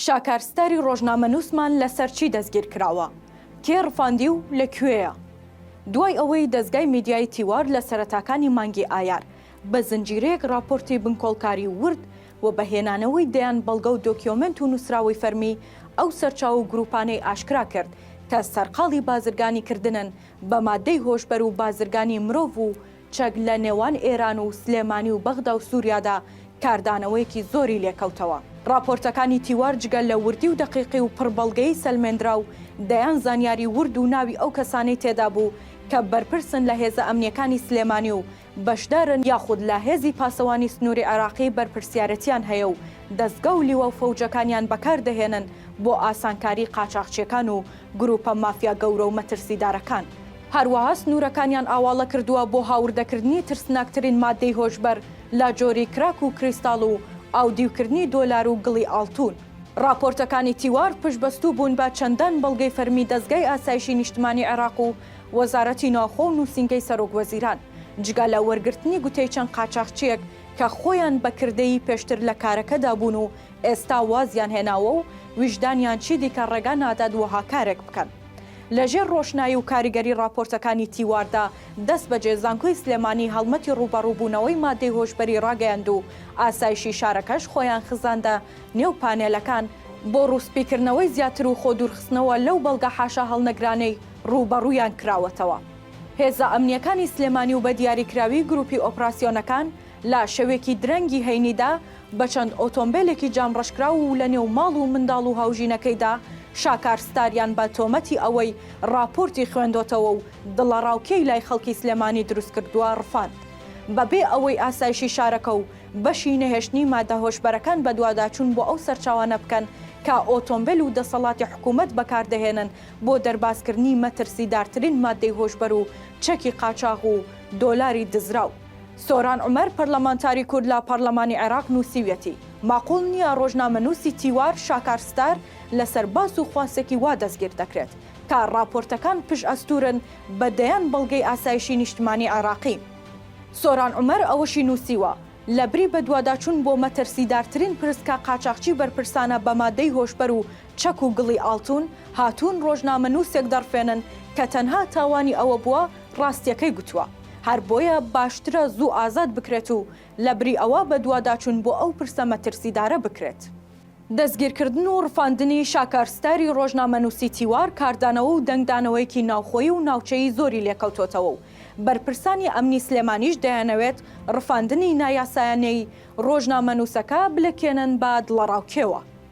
شاکار ستاری ڕۆژنامەنووسمان لەسەر چی دەستگیرکراوە؟ کێ ڕفاندی و لە کوێیە؟ دوای ئەوەی دەزگای میدیایی تیوار لە سەرەتاکانی مانگی ئایار بە زنجیرەیەک ڕاپۆرتی بنکۆڵکاریی ورد و بە هێنانەوەی دەیان بەڵگە و دۆکیۆمێنت و نووسراوەی فەرمی ئەو سەرچاوە و گرووپانەی ئاشکرا کرد کە سەرقاڵی بازرگانیکردنن بە ماددەی هۆشبەر و بازرگانیی مرۆڤ و چەک لە نێوان ئێران و سلێمانی و بەغدا و سوریادا کاردانەوەیەکی زۆری لێکەوتەوە. ڕاپۆرتەکانی تیوار جگە لە وردی و دەقیقی و پڕ بەڵگەی سەلمێندراو، دەیان زانیاری ورد و ناوی ئەو کەسانەی تێدا بوو کە بەرپرسن لە هێزە ئەمنییەکانی سلێمانی و بەشدارن یاخود لە هێزی پاسەوانی سنووری عێراقی بەرپرسیارەتیان هەیە و دەزگا و لیوا و فەوجەکانیان بەکار دەهێنن بۆ ئاسانکاری قاچاخچییەکان و گرووپە مافیا گەورە و مەترسیدارەکان، هەروەها سنوورەکانیان ئاواڵە کردووە بۆ هاوردەکردنی ترسناکترین ماددەی هۆشبەر لە جۆری کراک و کریستاڵ و ئاودیوکردنی دۆلار و گڵی ئاڵتوون. ڕاپۆرتەکانی تیوار پشتبەستوو بوون بە چەندان بەڵگەی فەرمی دەزگای ئاسایشی نیشتمانی عێراق و وەزارەتی ناوخۆ و نووسینگەی سەرۆکوەزیران، جگە لە وەرگرتنی گوتەی چەند قاچاخچییەک کە خۆیان بە کردەیی پێشتر لە کارەکەدا بوون و ئێستا وازیان هێناوە و ویژدانیان چیدیکە ڕێگا نادات وەها کارێک بکەن. لە ژێر ڕۆشنایی و کاریگەری ڕاپۆرتەکانی تیواردا، دەستبەجێ زانکۆی سلێمانی هەڵمەتی ڕووبەڕووبوونەوەی ماددەی هۆشبەری ڕاگەیاند و ئاسایشی شارەکەش خۆیان خزاندە نێو پانێلەکان، بۆ ڕووسپیکردنەوەی زیاتر و خۆدوورخستنەوە لەو بەڵگە حاشاهەڵنەگرانەی ڕووبەڕوویان کراوەتەوە. هێزە ئەمنییەکانی سلێمانی و بە دیاریکراوی گروپی ئۆپراسیۆنەکان، لە شەوێکی درەنگی هەینیدا بە چەند ئۆتۆمبێلێکی جام ڕەشکراو و لە نێو ماڵ و منداڵ و هاوژینەکەیدا، شاکار ستاریان بە تۆمەتی ئەوەی ڕاپۆرتی خوێندۆتەوە و دڵەڕاوکێی لای خەڵکی سلێمانی دروستکردووە ڕفاند. بە بێ ئەوەی ئاسایشی شارەکە و بەشی نەهێشتنی مادە هۆشبەرەکان بەدواداچوون بۆ ئەو سەرچاوانە بکەن کە ئۆتۆمبێل و دەسەڵاتی حکوومەت بەکاردەهێنن بۆ دەربازکردنی مەترسیدارترین ماددەی هۆشبەر و چەکی قاچاغ و دۆلاری دزراو. سۆران عومەر پەرلەمانتاری کورد لە پەرلەمانی عێراق نووسیویەتی، ماقوڵ نییە ڕۆژنامەنووسی تیوار شاکار ستار لەسەر باس و خواستێکی وا دەستگیر دەکرێت، کە ڕاپۆرتەکان پشت ئەستوورن بە دەیان بەڵگەی ئاسایشی نیشتمانی عێراقی. سۆران عومەر ئەوەشی نووسیوە، لەبری بەدواداچوون بۆ مەترسیدارترین پرس کە قاچاخچی بەرپرسانە بە مادەی هۆشبەر و چەک و گڵی ئاڵتوون هاتوون ڕۆژنامەنووسێک دەڕفێنن کە تەنها تاوانی ئەوە بووە ڕاستیەکەی گوتووە، هەر بۆیە باشترە زوو ئازاد بکرێت و لەبری ئەوە بەدواداچوون بۆ ئەو پرسە مەترسیدارە بکرێت. دەستگیرکردن و ڕفاندنی شاکار ستاری ڕۆژنامەنووسی تیوار کاردانەوە و دەنگدانەوەیەکی ناوخۆیی و ناوچەیی زۆری لێکەوتۆتەوە و بەرپرسانی ئەمنی سلێمانیش دەیانەوێت ڕفاندنی نایاسایانەی ڕۆژنامەنووسەکە بلکێنن بە دڵەڕاوکێوە.